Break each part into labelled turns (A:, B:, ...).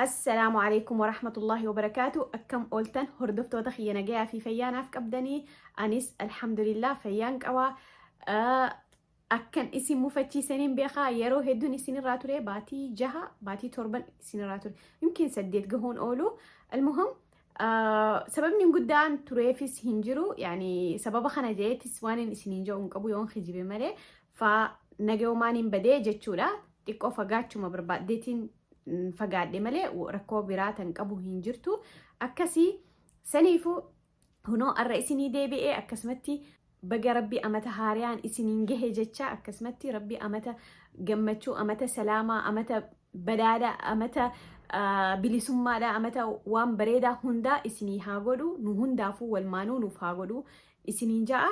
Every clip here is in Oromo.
A: Assalaamu alaikum warahmatullahi wabarakaatu akkam ooltan hordoftoota kiyya nagayaa fi fayyaa naaf qabdanii anis alhamdulillah fayyaan qaba Ah, akkan isin mufachiisaniin beekaa yeroo hedduun isinirraa ture baatii jaha baatii torban isinirraa ture yookiin saddeet gahuun oolu almuhim ah, sababni guddaan tureefis hin jiru yaani sababa kana jeetis waan hin isiniin jedhu hin qabu yoon kijibe malee faa nagayoomaan hin badee jechuudha xiqqoo fagaachuma barbaaddeetiin fagaadhe malee rakkoo biraa tan qabu hin jirtu akkasii saniifu hunoo arra isinii deebi'ee akkasumatti baga rabbi amata haariyaan isiniin gahe jecha akkasumatti rabbi amata gammachuu amata salaamaa amata badhaadha amata bilisummaadha amata waan bareedaa hundaa isinii haa godhu nu hundaafuu walmaanuu nuuf haa godhu isiniin ja'a.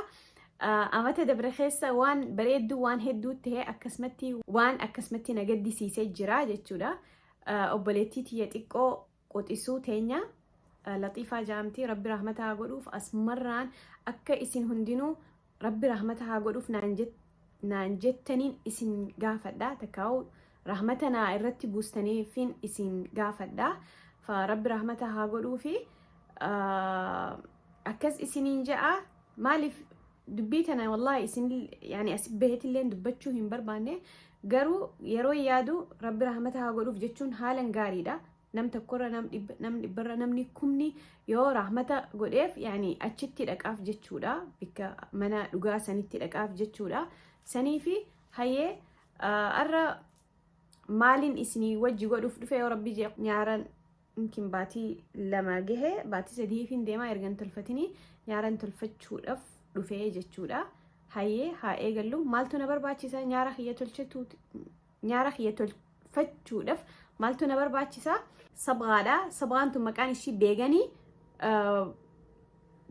A: Amata dabre keessa waan bareedduu waan hedduu ta'e akkasumatti waan akkasumatti na gaddisiisee jira jechuudha. Obboleettii tiyya xiqqoo quxisuu teenya laxiifaa jaamtii rabbi rahmata haa godhuuf asmarraan akka isin hundinuu rabbi rahmata haa godhuuf naan naan jettaniin isin gaafadha takkaa'u rahmata naa irratti buustaniifin isin gaafadha fa rabbi rahmata haa godhuufi ah, akkas isiniin ja'a maaliif dubbii tana wallahi isin yani asi bahetilleen dubbachuu hin barbaanne garuu yeroo yaadu rabbi rahmata haa godhuuf jechuun haalan gaariidha nam tokkorra nam dhibba nam dhibbarra namni kumni yoo rahmata godheef yaani achitti dhaqaaf jechuudha bikka mana dhugaa sanitti dhaqaaf jechuudha sanii fi hayyee arra maaliin isinii wajji godhuuf dhufe yoo rabbi jee nyaaran yookiin baatii lama gahe baatii sadii fi deemaa ergan tolfatinii nyaaran tolfachuudhaaf dhufee jechuudha hayyee haa eegallu maaltu na barbaachisa nyaara kiyya tolchetu Nyaara kiyya tolfachuudhaaf maaltu na barbaachisa? Sabgaadha. Sabgaan tun maqaan ishii beeganii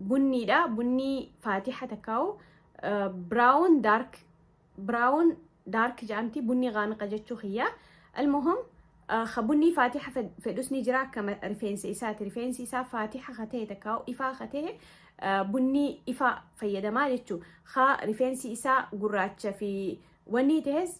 A: bunniidha. Bunnii faatiha takkaa'u biraawun daark biraawun daark jedhamti bunnii gaamiqa jechuu kiyya. Almuhum ka bunnii faatiha fedhus ni jira akka rifeensa isaati. Rifeensi isaa faatiha ka ta'e takkaa'u ifaa ka ta'e bunnii ifaa fayyadamaa jechuu. Ka rifeensi isaa gurraacha fi wanni ta'es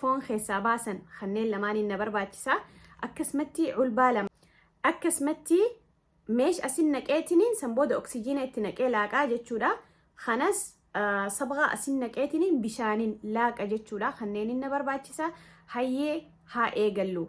A: foon keessaa baasan kanneen lamaaniin na barbaachisa akkasumatti culbaa lama akkasumatti meesh asin naqeetiniin san booda oksijiina itti naqee laaqaa jechuudha kanas sabgaa asin naqeetiniin bishaanin laaqa jechuudha kanneenin na barbaachisa hayyee haa eegallu.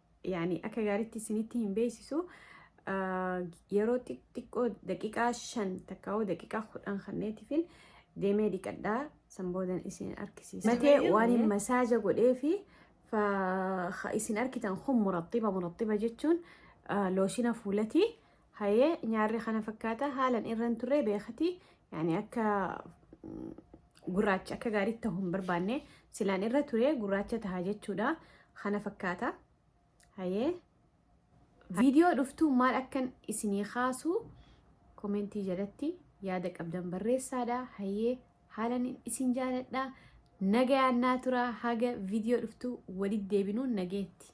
A: yaani akka gaariitti isinitti hin beeksisu yeroo xiqqoo daqiiqaa shan takkaawuu daqiiqaa kudhan kanneetifin deemee dhiqadhaa san boodan isin argisiisa. Matee waan hin masaaja godhee fi isin argitan kun murattiba murattiba jechuun looshina fuulatii Hayee nyaarri kana fakkaata haalan irran turree beekati yani akka mm, gurraacha akka gaariitti ta'uu hin barbaanne silaan irra turee gurraacha taha jechuudha kana fakkaata hayee viidiyoo dhuftuu maal akkan isinii kaasuu komentii jalatti yaada qabdan barreessaadha hayee haalan isin jaaladha nagayaan naa tura haga viidiyoo dhuftuu walitti deebinuun nageetti